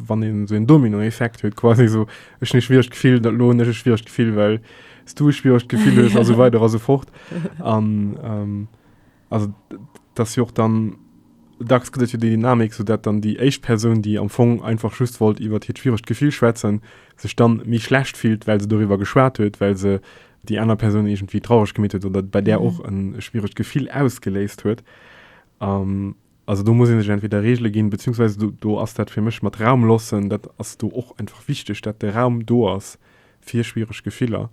wann een sou en Dominoeffekt huet quasi sou ech ne schwiecht Gefill, dat lohn ech e schwiecht Gefill, well s du schwiecht Gefill hues a sou weider a sou fort. An ähm, also dat ass jo och dann dacks gëtt et jo déi Dynamik, sou dat dann déi éischt Persoun, déi am Fong einfach just wollt iwwert hiert schwierecht Gefill schwätzen, sech dann méi schlecht fillt, well se doriwwer geschwat huet, well se déi aner Persoun iergendwéi traureg gemeet huet oder bei där och e schwierecht Gefill ausgeléist huet. An Also do muss ee sech entweder Regele ginn, beziehungsweise do, do ass dat fir mech mat Raum lossen, dat ass do och einfach wichteg, dat de Raum do ass fir schwiereg Gefiller.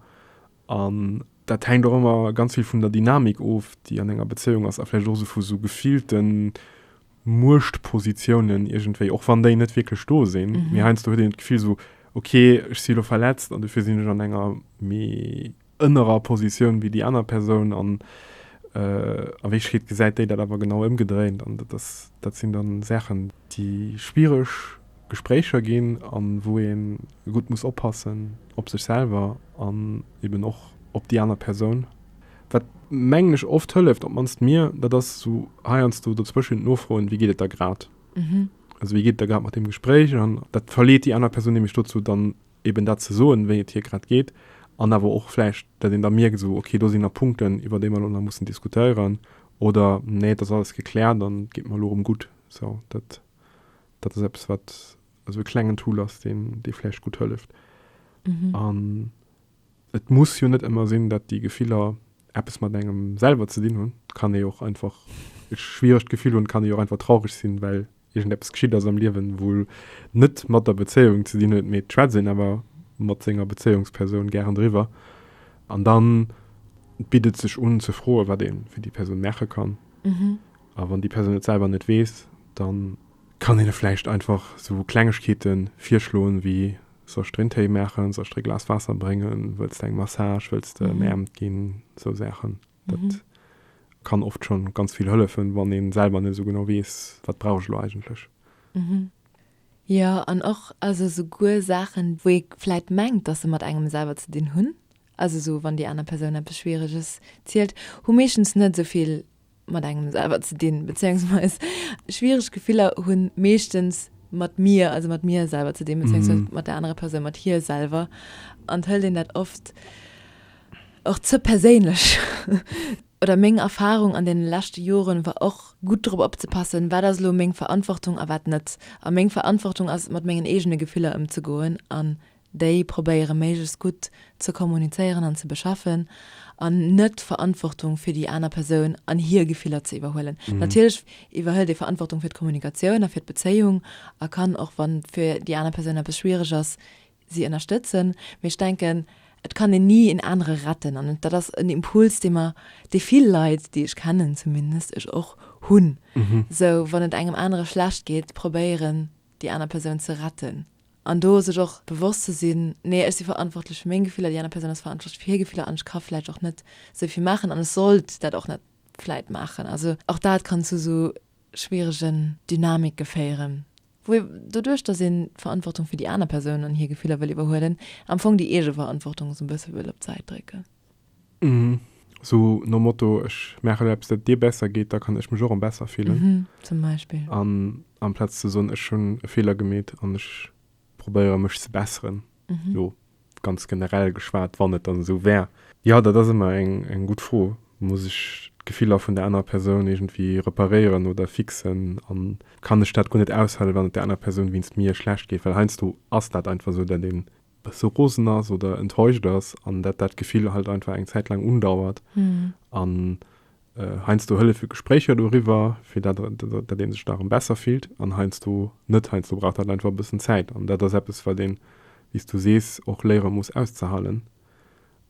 An dat hänkt och ëmmer ganz vill vun der Dynamik of, déi an enger Bezéiung ass a vläicht och esou vu sou gefillte Muechtpositiounen iergendwéi, och wann déi net wierklech do sinn, mee heiansdo huet een d'Gefill esou, okay, ech si lo verletzt an dofir sinn ech an enger méi ënnerer Positioun wéi déi aner Persoun an a Wierklechkeet gesäit déi dat awer genau ëmgedréint an dat ass, dat sinn da Saachen, déi schwiereg Gespréicher ginn a wou ee gutt muss oppassen op sech selwer an eben och op déi aner Persoun. Wat, mengen ech, oft hëlleft, op d'mannst mir, dat ass esou heiansdo dozwëschen nofroen, wéi geet et der grad, also wéi geet et der grad mat deem Gespréich an dat verleet déi aner Persoun nämlech dozou dann eben dat ze soen, wéi et hir grad geet, an awer och vläicht, datt een da mierkt, esou ok, do sinn nach Punkten, iwwer déi mer elo nach mussen diskutéieren, oder nee, et ass alles gekläert an et geet mer elo erëm gutt. Esou dat, dat ass eppes, wat esou e klengen Tool ass, deen, dee vläicht gutt hëlleft. An et muss jo net ëmmer sinn, datt déi Gefiller eppes mat engem selwer ze dinn hunn. Et kann ee jo och einfach e schwieregt Gefill hunn, et kann ee jo och einfach traureg sinn, well iergend eppes geschitt ass am Liewen, wou net mat der Bezéiung ze dinn huet, mee d'schwätzt een awer mat senger Bezéiungspersoun gären driwwer an da bitt et sech un ze froen, wat ee fir déi Persoun maache kann. A wann déi Persoun et selwer net weess, da kann een e vläicht einfach sou Klengegkeete virschloen, wéi, Soll ech der een Téi maachen, soll ech der e Glas Waasser bréngen, wëlls de eng Massage, wëlls de mäermt ginn, sou Saachen. Dat kann oft schon ganz vill hëllefen, wann een selwer net esou genau weess, wat brauch ech elo eigentlech. Mhm. Jo, an och also souguer Saachen, wou ee vläit mengt, dass se mat engem selwer ze dinn hunn, also esou wann déi aner Persoun eppes Schwiereges zielt, hu meeschtens net esou vill mat engem selwer ze dinn, bezéiungsweis schwiereg Gefiller hu meeschtens mat mir, also mat mir selwer ze dinn, bezéiungsweis mat der anerer Persoun, mat hir selwer. An 't hëlt een dat oft. Och ze perséinlech oder meng Erfahrung an den leschte Joren war och gutt drop opzepassen wat ass elo meng Verantwortung a wat net. A meng Verantwortung ass et mat mengen eegene Gefiller ëmzegoen an déi probéiere méiglechst gutt ze kommunizéieren an ze beschaffen an net d'Verantwortung fir déi aner Persoun an hir Gefiller ze iwwerhuelen. Natierlech iwwerhëlt ee Verantwortung fir d'Kommunikatioun a fir d'Bezéiung a kann och wann et fir déi aner Persoun eppes schwiereg ass si ënnerstëtzen, mee ech denken, et kann een ni een anere retten an dat ass en Impuls, dee mer, dee vill Leit, déi ech kennen zumindest, ech och, hunn, sou wann et engem anere schlecht geet, probéieren, déi aner Persoun ze retten an do sech och bewosst ze sinn, nee, ech si verantwortlech fir meng Gefiller, déi aner Persoun ass verantwortlech fir hir Gefiller an ech ka vläicht och net esou vill maachen an ech sollt dat och net vläicht maachen. Also och dat kann zu esou schwieregen Dynamike féieren, wou ee, doduerch datt een d'Verantwortung fir déi aner Persoun an hir Gefiller wëll iwwerhuelen, am Fong déi eege Verantwortung esou e bësse wëll op d'Säit drécken. Esou nom Motto, ech maache elo eppes, dat et dir besser geet, da kann ech mech och erëm besser fillen. Zum Beispill. An amplaz ze soen, ech hunn e Feeler gemeet an ech probéiere mech ze besseren, Mhm. Lo ganz generell geschwat, wann et dann esou wär. Ja, dat ass ëmmer eng, eng gutt Fro. Muss ech d'Gefiller vun der anerer Persoun iergendwéi reparéieren oder fixen? An kann ech dat guer net aushalen, wann et der anerer Persoun wéinst mir schlecht geet? Well heiansdo ass dat einfach esou, dat een e bësse rosen ass oder enttäuscht ass an dat dat Gefill halt einfach eng Zäit laang undauert. Mhm. An heiansdo hëllef jo Gespréicher doriwwer, fir dat dat ee sech da erëm besser fillt, an heiansdo net. Heiansdo brauch dat einfach e bëssen Zäit. An dat ass eppes, wat een, wéi s du sees, och léiere muss auszehalen.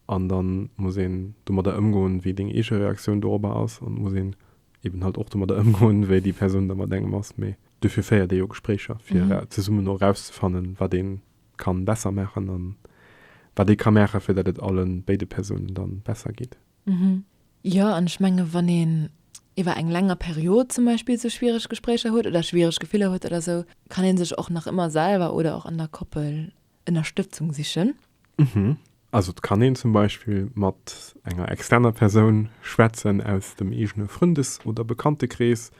An da muss een domadder ëmgoen, wéi deng eege Reaktioun dorobber ass. An muss een eben halt och domadder ëmgoen, wéi déi Persoun da mat engem ass. Mee duerfir féiert ee jo Gespréicher, fir zesummen och erauszefannen, wat ee ka besser maachen a wat ee ka maachen, fir dat et alle béide Persounen da besser geet. Mhm. Jo, an ech menge wann een iwwer eng länger Period zum Beispill sou schwiereg Gespréicher huet oder schwiereg Gefiller huet oder sou, kann ee sech och nach ëmmer selwer oder och an der Koppel Ënnerstëtzung sichen. Mhm. Also et kann een zum Beispill mat enger externer Persoun schwätzen aus dem eegene Frëndes oder Bekanntekrees,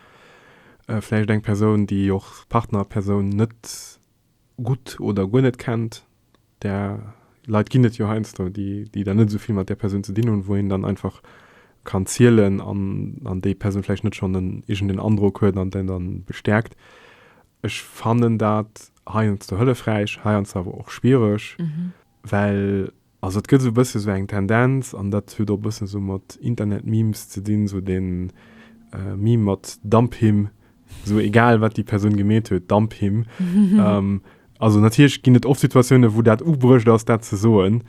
vläicht eng Persoun, déi och Partnerpersoun net gutt oder guer net kennt, där Leit ginn et jo heiansdo, déi déi dann net esou vill mat där Persoun ze dinn hunn, wou een dann einfach kann zielen an an déi Persoun vläicht net schonn en iergendeen Androck huet an deen dann bestäerkt. Ech fannen dat heiansdo hëllefräich, heiansdo awer och schwiereg, well Also et gëtt esou e bësse sou eng Tendenz, an dat huet och e bëssen esou mat Internet-Memes ze dinn, sou den Meme mat Dump him, sou egal wat déi Persoun gemeet huet, dump him. Also natierlech ginn et oft Situatiounen, wou dat ugebruecht ass, dat ze soen,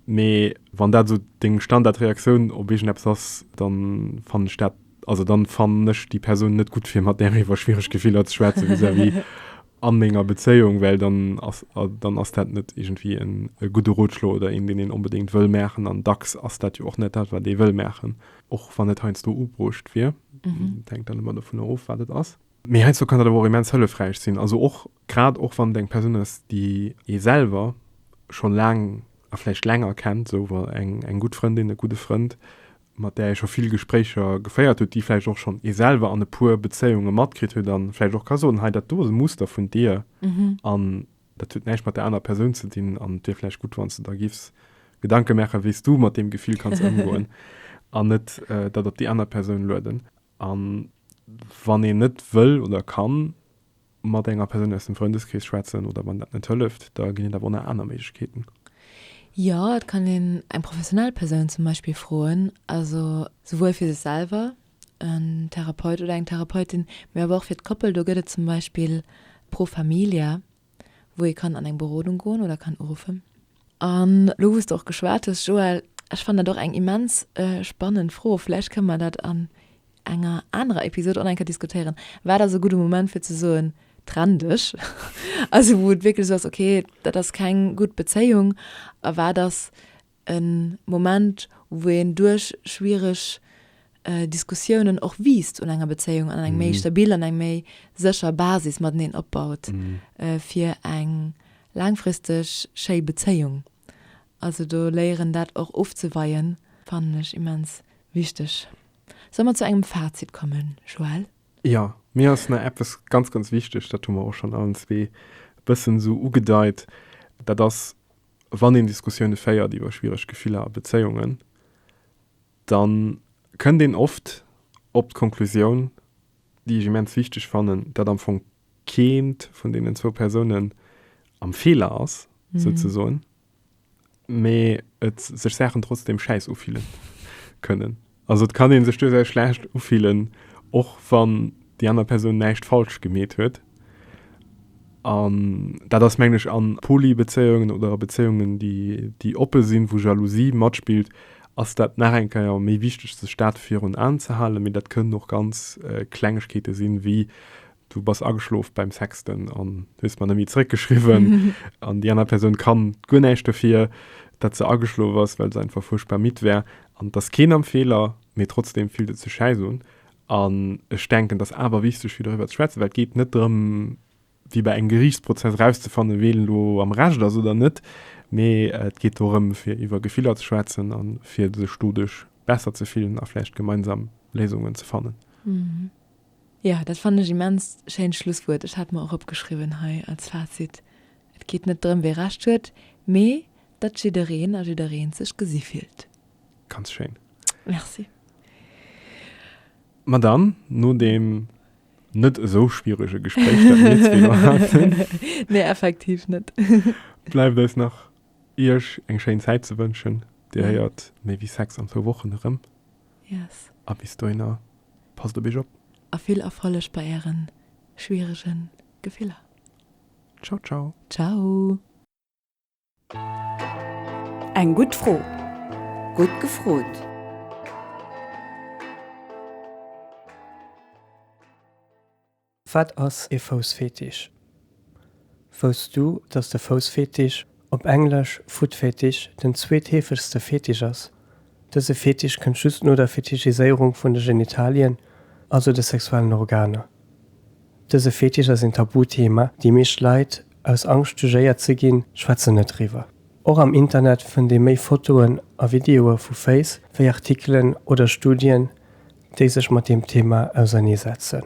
mee wann dat esou deng Standardreaktioun op iergendeppes ass, da fannen ech dat, also da fannen ech déi Persoun net gutt fir mat där iwwer schwiereg Gefiller ze schwätzen vis-à-vis. an menger Bezéiung, well dann ass, dann ass dat net iergendwéi en gudde Rotschlo oder een, deen een onbedéngt wëll maachen. An dacks ass dat jo och net dat, wat ee wëll maachen, och wann et heiansdo ubruucht wier. Dat hänkt dann ëmmer dovunner of, wat et ass. Mee heiansdo kann dat awer och immens hëllefräich sinn, also och grad och wann et eng Persoun ass, déi ee selwer scho laang a vläicht länger kennt, esou eng gutt Frëndin, e gudde Frënd, mat där ee scho vill Gespréicher geféiert huet, déi vläicht och schonn ee selwer an e puer Bezéiunge matkritt huet a vläicht och ka soen, hei dat do ass e Muster vun dir an dat huet näischt mat där anerer Persoun ze dinn an et wier vläicht gutt, wann s de der giffs Gedanke maachen, wéi s du mat deem Gefill kanns ëmgoen an net dat op déi aner Persoun lueden. A wann een net wëll oder kann. mat enger Persoun aus dem Frëndeskrees schwätzen oder wann dat net hëlleft, da ginn et awer och nach aner Méiglechkeeten. Jo, et kann een eng professionell Persoun zum Beispill froen, also souwuel fir sech selwer, en Therapeut oder eng Therapeutin, mee awer och fir d'Koppel. Do gëtt et zum Beispill Pro Familia, wou ee kann an eng Berodung goen oder kann uruffen. An elo wou s de och geschwat hues, Joël, ech fannen dat och eng immens spannend Fro, vläicht kënnen mer dat an enger anerer Episod online ka diskutéieren, wat ass e gudde Moment fir ze soen, trenn dech, also wou et wierklech esou ass, okay, dat ass keng gutt Bezéiung, a wat ass e Moment, wou een duerch schwiereg Diskussiounen och wiisst un enger Bezéiung an eng méi stabil an eng méi sécher Basis mateneen opbaut fir eng laangfristeg schéi Bezéiung. Also do léieren, dat och ofzeweien, fannen ech immens wichteg. Solle mer zu engem Fazit kommen, Joël? Jo, mir ass nach eppes ganz, ganz wichteg, dat hu mer och schonn allen zwee e bëssen esou ugedeit, dat ass, Wann een Diskussioune féiert iwwer schwiereg Gefiller a Bezéiungen, da kënnt een oft op d'Konklusioun, déi ech immens wichteg fannen, dat am Fong keent vun deenen zwou Persounen am Feeler ass, souzesoen. mee et sech Saachen trotzdem schäiss ufillen kënnen. Also et kann een sech duerchaus schlecht ufillen, och wann déi aner Persoun näischt falsch gemeet huet. An dat ass mengg ech an Polybezéiungen oder a Bezéiungen déi déi oppe sinn, wou Jalousie matspillt, ass dat nach eng Keier méi wichteg sech dat virun Aen ze halen. Mee dat kënnen och ganz Klengegkeete sinn, wéi du bass ageschlof beim Sexten an hues mer nemmi zeréck geschriwwen an déi aner Persoun kann guer näischt dofir, dat se ageschlof ass, well se einfach fuerchtbar midd war an et ass keen am Feeler, mee trotzdem fillt et sech schäiss un an ech denken, et ass awer wichteg fir doriwwer ze schwätzen, well et geet net drëm, wéi bei engem Geriichtsprozess, erauszefannen, ween elo am Recht ass oder net, mee et geet dorëm, fir iwwer Gefiller ze schwätzen an fir sech doduerch besser ze fillen a vläicht gemeinsam Léisungen ze fannen. Ja, dat fannen ech immens schéint Schlusswuert. Ech hat mer och opgeschriwwen hei als Fazit, Et geet net drëm wee Recht huet, mee datt jiddereen a jiddereent sech gesi fillt. Ganz schéin. Merci. Ma dann, no deem net esou schwierege Gespréich, dat mir zwee elo haten, Nee, effektiv net. bleift eis nach Iech eng schéin Zäit ze wënschen. Dir héiert méi wéi Sex an zwou Wochen erëm. Yes. A bis dohinner, passt op iech op. A vill Erfolleg bei ären schwieregen Gefiller. Ciao ciao. Ciao. Eng gutt Fro, gutt gefrot. Wat ass ee Foussfetisch? Wousst du, dass de Foussfetisch, op Englesch Footfetish, den zweetheefegste Fetisch ass? Dëse Fetisch kënnt just no der Fetischiséierung vun de Genitalien, also de sexuellen Organer. Dëse Fetisch ass een Tabuthema, déi meescht Leit, aus Angscht jugéiert ze ginn, schwätzen net driwwer. Och am Internet fënnt ee méi Fotoen a Videoe vu Féiss wéi Artikelen oder Studien, déi sech mat deem Thema auserneesetzen.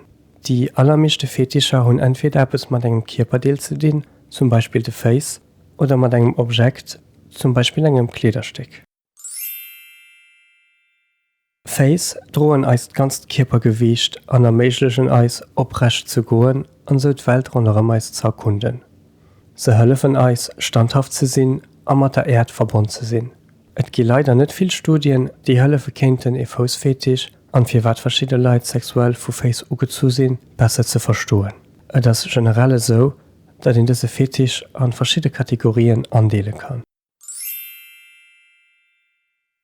Déi allermeeschte Fetischer hunn entweder eppes mat engem Kierperdeel ze dinn, zum Beispill de Féiss, oder mat engem Objekt, zum Beispill engem Kleederstéck. Féiss droen eist ganzt Kierpergewiicht an erméiglechen eis, oprecht ze goen an esou d'Welt ronderëm eis ze erkunden. Se hëllefen eis, standhaft ze sinn a mat der Äerd verbonn ze sinn. Et gi leider net vill Studien, déi hëllefe kéinten, ee Foussfetisch, an firwat verschidde Leit sexuell vu Féiss ugezu sinn, besser ze verstoen. Et ass generell esou, datt een dëse Fetisch a verschidde Kategorien andeele kann.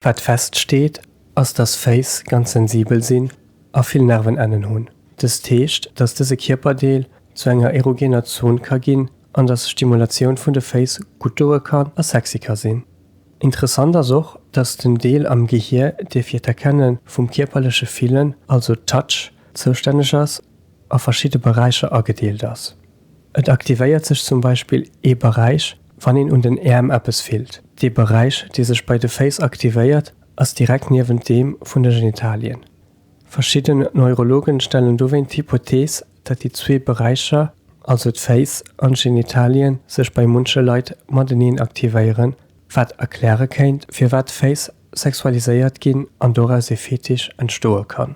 Wat feststeet, ass datt Féiss ganz sensibel sinn a vill Nervenennen hunn. Dëst heescht, datt dëse Kierperdeel zu enger erogener Zon ka ginn an datt Stimulatioun vun de Féiss gutt doe kann a sexy ka sinn. Interessant ass och, dass den Deel am Gehier, dee fir d'Erkenne vum kierperleche Fillen, also Touch, zoustänneg ass, a verschidde Beräicher agedeelt ass. Et aktivéiert sech zum Beispill ee Beräich, wann een un den Äerm eppes fillt. Dee Beräich, dee sech bei de Féiss aktivéiert, ass direkt niewent deem vun de Genitalien. Verschidden Neurologen stellen dowéint d'Hypothees, datt déi zwee Beräicher, also d'Féiss an d'Genitalien, sech bei munche Leit mateneen aktivéieren, wat erkläre kéint, firwat d'Féiss sexualiséiert ginn an doraus ee Fetisch entstoe kann.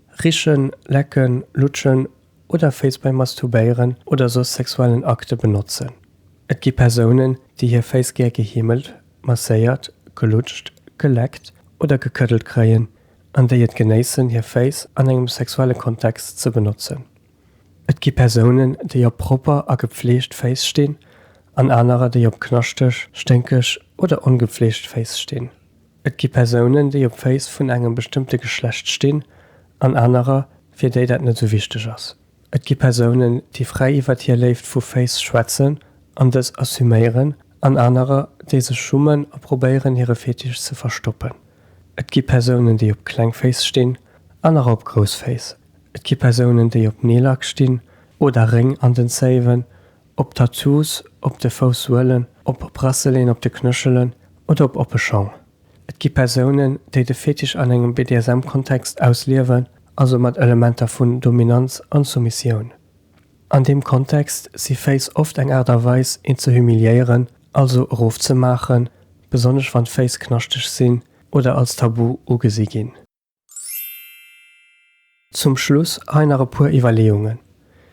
Richen, lecken, lutschen oder Féiss beim Masturbéieren oder soss sexuellen Akte benotzen. Et gi Persounen, déi hir Féiss gär geheemelt, masséiert, gelutscht, geleckt oder gekëddelt kréien an déi et genéissen, hir Féiss an engem sexuelle Kontext ze benotzen. Et gi Persounen, déi op propper a gepfleegt Féiss stinn an anerer, déi op knaschteg, sténkeg oder ongepfleegt Féiss stinn. Et gi Persounen, déi op Féiss vun engem bestëmmte Geschlecht stinn, an anerer, fir déi dat net esou wichteg ass. Et gi Persounen, déi fräi iwwert hir Léift vu Féiss schwätzen an dës assuméieren, an anerer, déi sech schummen a probéieren, hire Fetisch ze verstoppen. Et gi Persounen, déi op kleng Féiss stinn, anerer op grouss Féiss. Et gi Persounen, déi op Neelak stinn oder Réng an den Zéiwen Op Tattoos op de Foussoelen, op Brasseleen op de Knëchelen oder op oppe Schong, et gi Persounen, déi de Fetisch an engem BDSM-Kontext ausliewen, also mat Elementer vun Dominanz an Soumissioun. An deem Kontext si Féiss oft eng Aart a Weis, een ze humiliéieren, also erofzemaachen, besonnesch wann d'Féiss knaschteg sinn oder als Tabu ugesi ginn. Zum Schluss hei nach e puer Iwwerleeungen.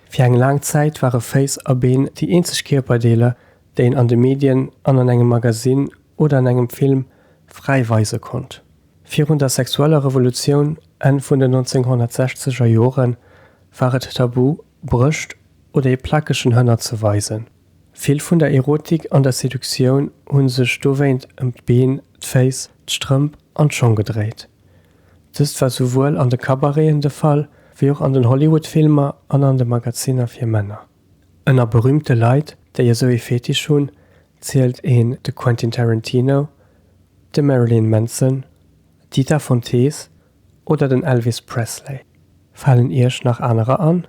Fir eng laang Zäit ware Féiss a Been déi eenzeg Kierperdeeler, déi een an de Medien an an engem Magasinn oder an engem Film fräi weise konnt. Virun der sexueller Revolutioun, Enn vun den 1960er Joren, war et tabu, Brëscht oder ee plakegen Hënner ze weisen. Vill vun der Erotik an der Seductioun hu sech dowéint ëm d'Been, d'Féiss, d'Strëmp an d'Schong gedréit. Dëst war souwuel an de Cabareten de Fall, wéi och an den Hollywood-Filmer an an de Magazinner fir Männer. Ënner berüümte Leit, déi esou ee Fetisch hunn, zielt een de Quentin Tarantino, de Marilyn Manson, d'Dita Von Teese oder den Elvis Presley. Falen Iech nach anerer an?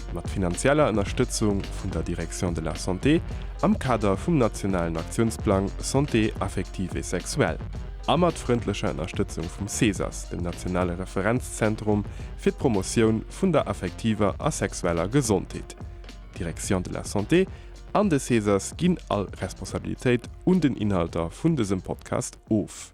mat finanzieller Ënnerstëtzung vun der Direction de la Santé am Kader vum nationalen Aktiounsplang Santé affective et sexuelle a mat frëndlecher Ënnerstëtzung vum CESAS, dem nationale Referenzzentrum fir d'Promotioun vun der affektiver a sexueller Gesondheet. D'Direction de la Santé an de CESAS ginn all Responsabilitéit un den Inhalter vun dësem Podcast of.